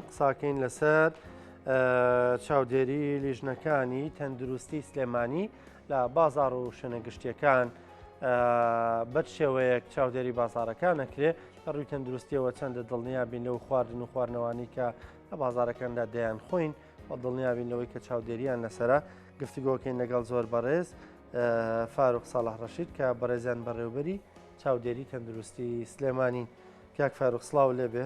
قساکەین لەسەر چاودێری لیژنەکانی تەندروستی سلێمانی لە بازار و شوێنە گشتیەکان بەر شێوەیەک چاودێری بازارەکان نەکرێ لە ڕووی تەندروستیەوە چەندە دڵنیا بین لەو خواردن و خواردنەوانی کە لە بازارەکاندا دەیان خۆین و دڵنیا بین لەوەی کە چاودێریان لەسرە گفتوگۆکەین لەگەڵ زۆر بەڕێز فاروق ساڵح ڕەشید کە بەڕێزیان بەڕێوبەری چاودێری تەندروستی سلێمانی کاک فاروق سلااو لێبێ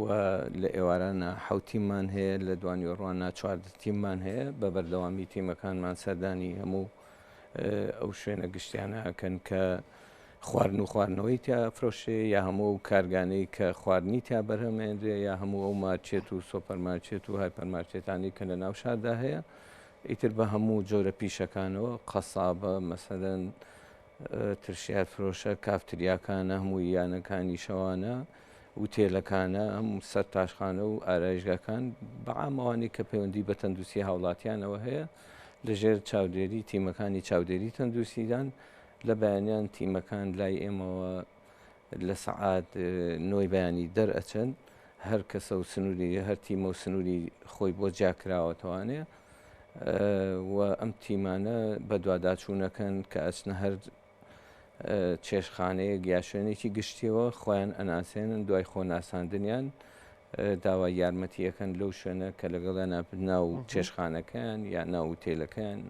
و لە ئێوارانە حەوت تیممان هەیە، لە دوانیوەڕوانە چواردە تیممان هەیە، بە بەردەوامی تیمەکانمان سەردانی هەموو ئەو شوێنە گشتیانە ئەکەن کە خواردن و خواردنەوەی تیا ئەفرۆشێ یا هەموو ئەو کارگانەی کە خواردنی تیا بەرهەمێنرێ یا هەموو ئەو مارچێت و سۆپەرمارچێت و هایپەرمارچێتانی کە لە ناو شاردا هەیە ئیتر بە هەموو جۆرە پیشەکانەوە قەسابە مەسەدەن ترشیات فرۆشە کافتریاکانە هەموو یانەکانی شەوانە ئوتێلەکانە، هەموو سەر تاشخانە و ئارایشگاکان بە عام ئەوانەی کە پەیوەندی بە تەندوستی هاوڵاتیانەوە هەیە لە ژێر چاودێری تیمەکانی چاودێری تەندوستیدان لە بەیانیان تیمەکان لای ئێمەوە لە سەعات نۆی بەیانی دەرئەچن هەر کەسە و سنووری هەر تیمە و سنووری خۆی بۆ جیاکراوەتەوانێ و ئەم تیمانە بەدواداچوونەکەن کە ئەچنە هەر چێشتخانەیەک یا شوێنێکی گشتیەوە خۆیان ئەناسێنن دوای خۆ ناساندنیان داوای یارمەتی ئەەکەن لەو شوێنە کە لەگەڵیان ناپت ناو چێشخانەکەیان یا ناوتێلەکەیان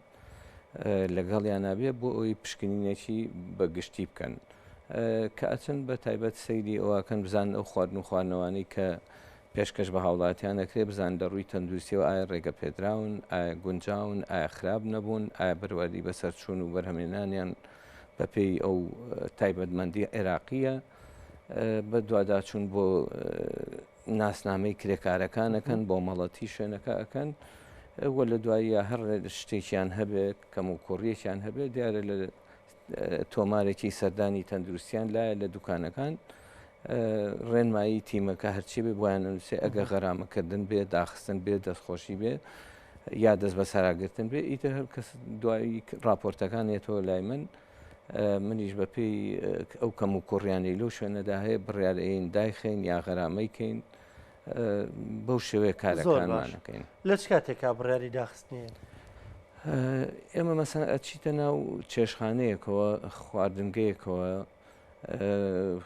لەگەڵیان نابێ بۆ ئەوی پشکنینێکی بە گشتی بکەن کە ئەچن بە تایبەت سەیری ئەوکەن بزان ئەو خواردن و خوانەوانی کە پێشکەش بە هاوڵاتیان دەکرێت بزانن لە ڕووی تەندروستیەوە ئایا ڕێگە پێدراون، ئایا گونجاون، ئایا خراپ نەبوون، ئایا بەروادی بەسەرچوون و بەرهەمێنانیان بەپێی ئەو تایبەتمەندی عێراقیە بەدواداچوون بۆ ناسنامەی کرێکارەکان ئەکەن بۆ مەڵەتی شوێنەکە ئەکەن وە لە دواییە هەر شتێکیان هەبێت کەم و کوڕیەکیان هەبێت دیارە لە تۆمارێکی سەردانی تەندروستیان لایە لە دوکانەکان ڕێنمایی تیمەکە هەرچی بێ بۆیان نووسێ ئەگە غەرامەکردن بێ داخستن بێ دەستخۆشی بێ یا دەست بە ساراگرتن بێ ئیتر هەر کەس دوایی راپۆرتەکان یێتەوە لای من منیش بە پێی ئەو کەم و کوڕیانی لەو شوێنەدا هەیە بڕارەین دایخین یا غەرامەی کەین بەو شێوەیە کارەکانمانەکەین لە چ کاتێکا بڕیاری داخستنیە ئێمە مەسەن ئەچیتە ناو چێشخانەیەکەوە خواردنگەیەکەوە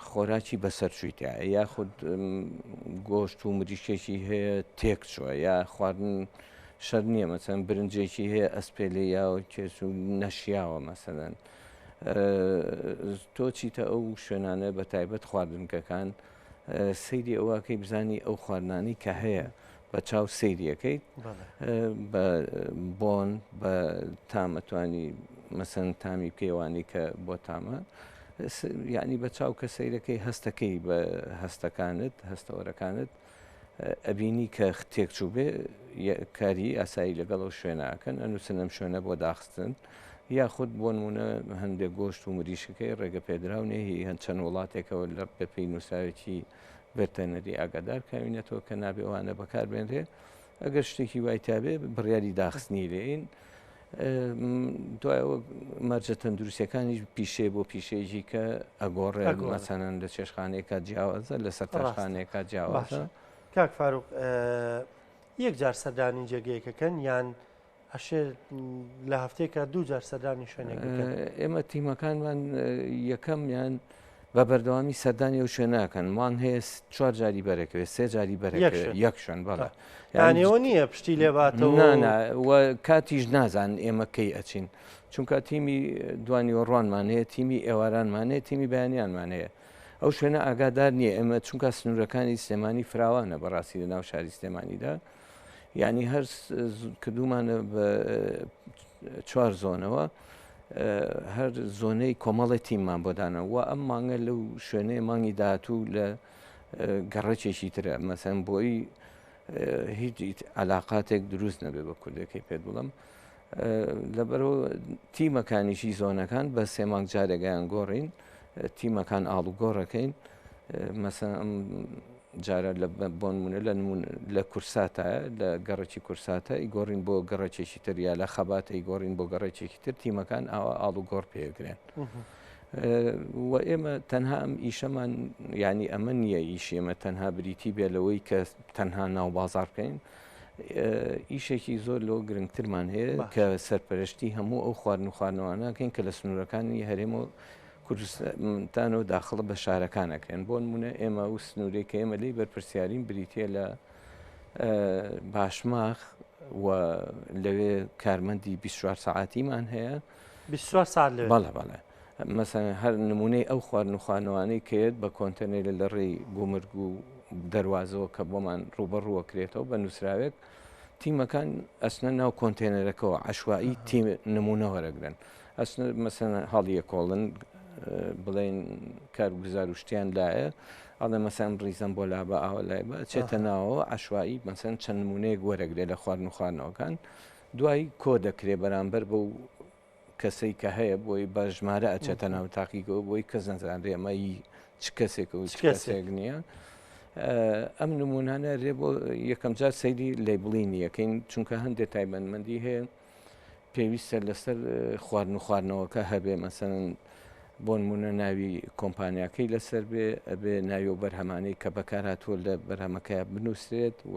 خۆراکی بەسەر چویتە یاخود گۆشت و مریشکێکی هەیە تێک چوە یا خواردن شەر نییە مەسەن برنجێکی هەیە ئەسپێلی یا و کێس و نەشیاوە مەسەدەن تۆ چیتە ئەو شوێنانە بە تایبەت خواردنکەکان سەیری ئەوەکەی بزانی ئەو خواردنانی کە هەیە بە چاو سەیریەکەیت بە بۆن بە تامەتوانی مەسەن تامی پێوانی کە بۆ تامە یعنی بە چاو کە سەیرەکەی هەستەکەی بە هەستەکانت هەستەوەرەکانت ئەبینی کە تێکچوو بێ کاری ئاسایی لەگەڵ ئەو شوێنەکەن ئەنووسنم شوێنە بۆ داخستن یاخود بۆ نموونە هەندێک گۆشت و مریشکەکەی ڕێگەپێدراو نیە، هی هەند چەند وڵاتێکەوە لە بەپێی نووسراوێکی ڤێرتەنەری ئاگادار کراوینەتەوە کە نابێ وانە بەکار بێنرێ ئەگەر شتێکی وای تابێ بڕیاری داخستنی لێین. دوایەوە مەرجە تەندروستەکانیش پیشێ بۆ پیشێژی کە ئەگۆڕێ مەسەنەن لە چێشخانەیەکە جیاوازە لە سەرتاشخانەیەکە جیاوازە کاک فاروق یەک جار سەردانی جێگەیەکەکەن یان ئەشێ لە هەفتەیەکە دوو جار سەردانی شوێنێک ئێمە تیمەکانمان یەکەمیان بە بەردەوامی سەردانی و شوێنەکەن وان هەیە چوار جاری بەرەکەوێت سێ جاری بەر یەک شوێن بەڵە یانەوە نییە پشتی لێباتەوە کاتیش نازان ئێمە کەی ئەچین چونکە تیمی دوانی و ڕوانمان هەیە تیمی ئێوارانمان هەیە تیمی بەیانیانمان هەیە ئەو شوێنە ئاگادار نییە ئێمە چونکە سنوورەکانی سلێمانی فراوانە بەڕاستی لە ناو شاری سلێمانیدا یانی هەر کردومانە بە چوار زۆنەوە هەر زۆنەی کۆمەڵی تیممان بۆ دانە و ئەم مانگە لەو شوێنەی مانگی داهاتوو لە گەڕەکێکی ترە مەسەن بۆی هیچ علااقاتێک دروست نەبێ بە کوردەکەی پێت بڵم لەبەرئەوە تیمەکانیشی زۆنەکان بە سێ مانگ جارێگەیان گۆڕین تیمەکان ئاڵوگۆڕەکەین مەسە جارە لە بۆنمونە لە لە کورساتە لە گەڕێکی کورساتە ئی گۆڕین بۆ گەڕێکێکی تر یا لە خەباتە ئی گۆڕین بۆ گەڕێکێکی تر تیمەکان ئاوا ئاڵ و گۆڕ پێگرێن. و ئێمە تەنها ئەم ئیشەمان ینی ئەمە نییە ئیشێمە تەنها بریتی بێ لەوەی کە تەنها ناو بازار بکەین ئیشێکی زۆر لەوە گرنگترمان هەیە کە سەرپەرشتی هەموو ئەو خواردن و خواردنەوانەکەین کە لە سنوورەکانی هەرێم و کوردستان و داخڵە بە شارەکانەکەن بۆ نمونە ئێمە و سنوورێک کە ئێمە لی بەرپرسیارین بریتە لە باشماخ و لەوێ کارمەندی 24 ساعتیمان هەیە 24 ساعت لە بەڵە بەڵێ مەسەلەن هەر نموونەی ئەو خواردن و خانەوانەی کە یەت بە کۆنتێنەیلە لە ڕێی گومرگ و دەروازەوە کە بۆمان ڕووبەڕوو ئەکرێتەوە بە نووسراوێک تیمەکان ئەچنە ناو کۆنتێنەرەکەوە عەشوایی تی نموونە وەرەگرن ئەچنە مەسەلەن هەڵیەکۆڵن بڵێن کارگوزار و شتیان لایە ئەڵێ مەسەلەن ڕیزەم بۆ لابە ئاوە لای بە چێتە ناوەوە عەشوایی مەسەلەن چەند نموونەیەک وەرەگرێ لە خواردن و خواردنەوەکان دوای کۆ دەکرێ بەرامبەر بەو کەسەی کە هەیە بۆی بە ژمارە ئەچێتە ناو تاقیگەوە بۆی کەس نەزانرێ ئەمە ی چ کەسێک و چ کەسێک نییە ئەم نمونانە رێ بۆ یەکەم جار سەیری لەیبڵین یەکەین چونکە هەندێک تایبەتمەندی هەیە پێویستە لەسەر خوارد و خواردنەوەکە هەبێ مەسەن بۆن مونە ناوی کۆمپانیاکەی لەسەر بێ ئەبێ ناوی و بەرهەمانەی کە بەکارهاتوە لە بەرهەمەکە بنووسێت و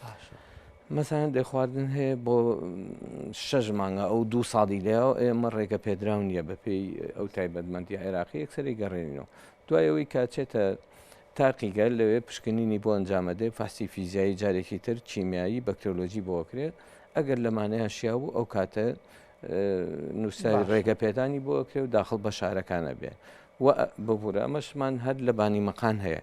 باشە مەسەلەن دەی خواردن هەیە بۆ شەش مانگە ئەو دوو ساڵی لەیەوە ئێمە ڕێگە پێدراو نییە بەپێی ئەو تایبەتمەندی عێراقی یەکسەری گەڕێنینەوە دوایەوەی کاچێتە تاقیگە لەوێ پشکنینی بۆ ئەنجامەدەی فاسی فیزیایی جارێکی تر کیمیایی بەکتۆلۆژی بۆکرێت ئەگەر لەمانەیە شیا بوو ئەو کاتە نووسراوی ڕێگە پێدانی بۆکرێ و داخل بە شارەکانە بێ و ببوورە ئەمەشمان هەر لە بانی مەقان هەیە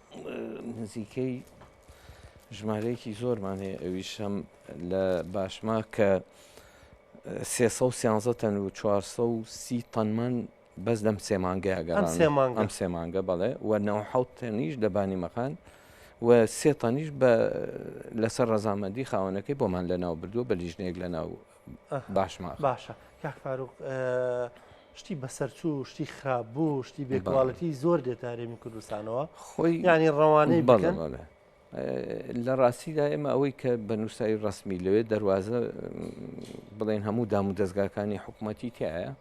نزیکەی ژمارەیەکی زۆرمان هەیە ئەویش هەم لە باشما کە سێ سە و سیانزە تەن و چوارسە و سی تەنمان بەس لەم سێ مانگەیەگە ئەم سێ مانگە ئەم سێ مانگە بەڵێ و نەوە حەوت تەنیش لە بانیمەخان و سێ تەنیش بە لەسەر ڕەزامەندی خاوەنەکەی بۆمان لە ناو بردووە بە لیژنەیەک لە ناو باشمان باشە کاک فاروق شتی بەسەرچوو شتی خراپ بوو شتی بێکواڵەتی زۆر دێتە هەرێمی کوردستانەوە خۆی ینی ڕەوانەی بەڵێ لە ڕاستیدا ئێمە ئەوەی کە بە نووسایی ڕسمی لەوێ دەواازە بڵێن هەموو دام و دەستگاکانی حکوومەتی تایە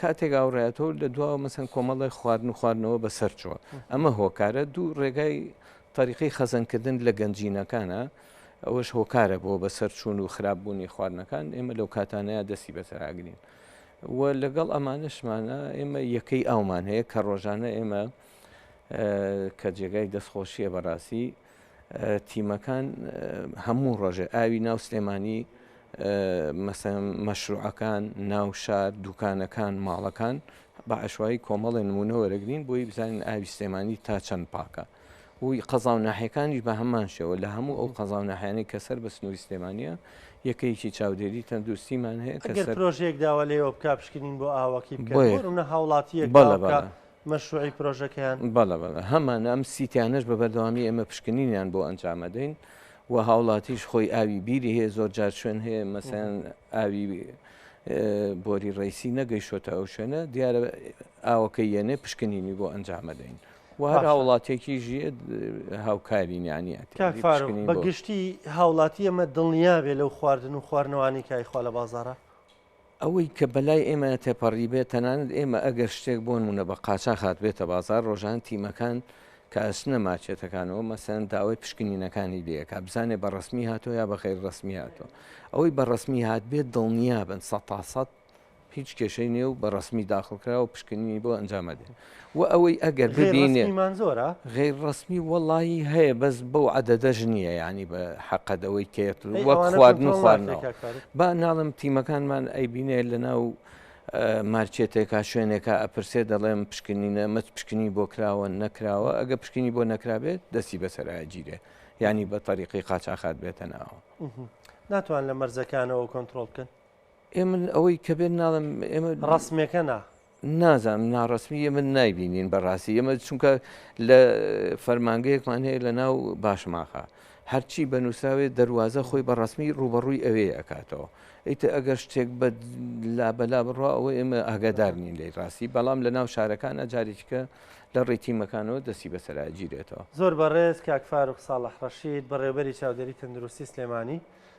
کاتێک ئاوڕایەتەوە لە دواوە مەسەن کۆمەڵێ خواردن و خواردنەوە بەسەر چووە ئەمە هۆکارە دوو ڕێگای تەریقی خەزەنکردن لە گەنجینەکانە ئەوەش هۆکارە بۆ بەسەر چوون و خراپ بوونی خواردنەکان ئێمە لەو کاتانەیە دەستی بەسەراگرین و لەگەڵ ئەمانشمانە ئێمە یەکەی ئەومان هەیە کە ڕۆژانە ئێمە کە جێگای دەستخۆشیە بەڕاستی تیمەکان هەموو ڕۆژێ ئاوی ناو سلێمانی مەشروعەکان ناو شار دوکانەکان ماڵەکان بە عشوایی کۆمەڵێ نمونە وەرەگرین بۆی بزانین ئاوی سلێمانی تا چەند پاکە وی قەزا و ناحەکانیش بە هەمان شێوە لە هەموو ئەو قەزا و ناحیانەی کە سەر بە سنووری سلێمانە یەکەیەکی چاودێری تەندروستیمان هەیە کە سەر پرۆژێک داوا لێوە بک پشکنین بۆ ئاوەکی بکە بۆ ڕونە هاوڵاتیەک بەڵە بە مەشروعی پرۆژەکەیان؟ بەڵێ بەڵێ هەمان ئەم سیتانەش بە بەردەوامی ئێمە پشکنینیان بۆ ئەنجامەدەین و هاوڵاتیش خۆی ئاوی بیری هەیە زۆر جار شوێن هەیە مەسەن ئاوی بۆری ڕیسی نەگەیشتە ئەو شوێنە دیارە ئاوەکە یەنێ پشکنینی بۆ ئەنجامەدەین وهر هاوڵاتێکی ژێ هاوکارینیانی بەگشتی هاوڵاتی ئەمە دڵنیابێ لەو خواردن و خواردنەوانی کایخوا لە بازارە ئەوەی کە بەلای ئێمە تێپەڕیبێت، تەنانەت ئێمە ئەگەر شتێک بۆ نموونە بە قاچاخ هاتبێتە بازاڕ، ڕۆژانە تیمەکان کە ئەچنە مارکێتەکانەوە مەسەلەن داوای پشکنینەکانی لێ ئەکات، بزانێت بە ڕەسمی هاتووە یا بە غەیر ڕەسمی هاتووە. ئەوەی بە ڕەسمی هاتبێت دڵنیابن سەد تا سەد هیچ کێشەی نییە و بە ڕەسمی داخڵکراوە و پشکنینی بۆ ئەنجام ئەدرێت. وە ئەوەی ئەگەر ببینێ. غەیر ڕەسمی مان زۆرە؟ غەیر ڕەسمی وەڵاهی هەیە بەس بەو عەدەدەش نییە یانی بە حەقت ئەوەی کێت وەک خواردن و خواردنەوە با ناڵم تیمەکانمان ئەیبینێ لە ناو مارچێتێکا شوێنێکە ئەپرسێ دەڵێم پشکنینە مەچ پشکنی بۆ کراوە نەکراوە ئەگە پشکنی بۆ نەکرابێت دەستی بەسەراگیرێ ینی بە تەریقی قاچاخات بێتە ناوە ناتوان لە مەرزەکانەوە کۆنتترۆل بکەن ئێمن ئەوەی کە بێت ناڵم ئێمە ڕسمەکە نا نازانم ناڕەسمی یە من نایبینین بەڕاستی ئێمە چونکە لە فەرمانگەیەکمان هەیە لە ناو باشماخە هەرچی بە نووسراوێت دەواازە خۆی بە ڕسمی ڕوبەڕووی ئەوێ ئەکاتەوە ئیتە ئەگەر شتێک بە لابەلا بڕوا ئەوە ئێمە ئاگادار نین لی ڕاستی بەڵام لە ناو شارەکان ئەجارێککە لە ڕێتیمەکانەوە دەستی بەسەراگیرێتەوە زۆر بەڕێز کاک فاروق ساڵح ڕەشید بەڕێوبەری چاودێری تەندروستی سلێمانی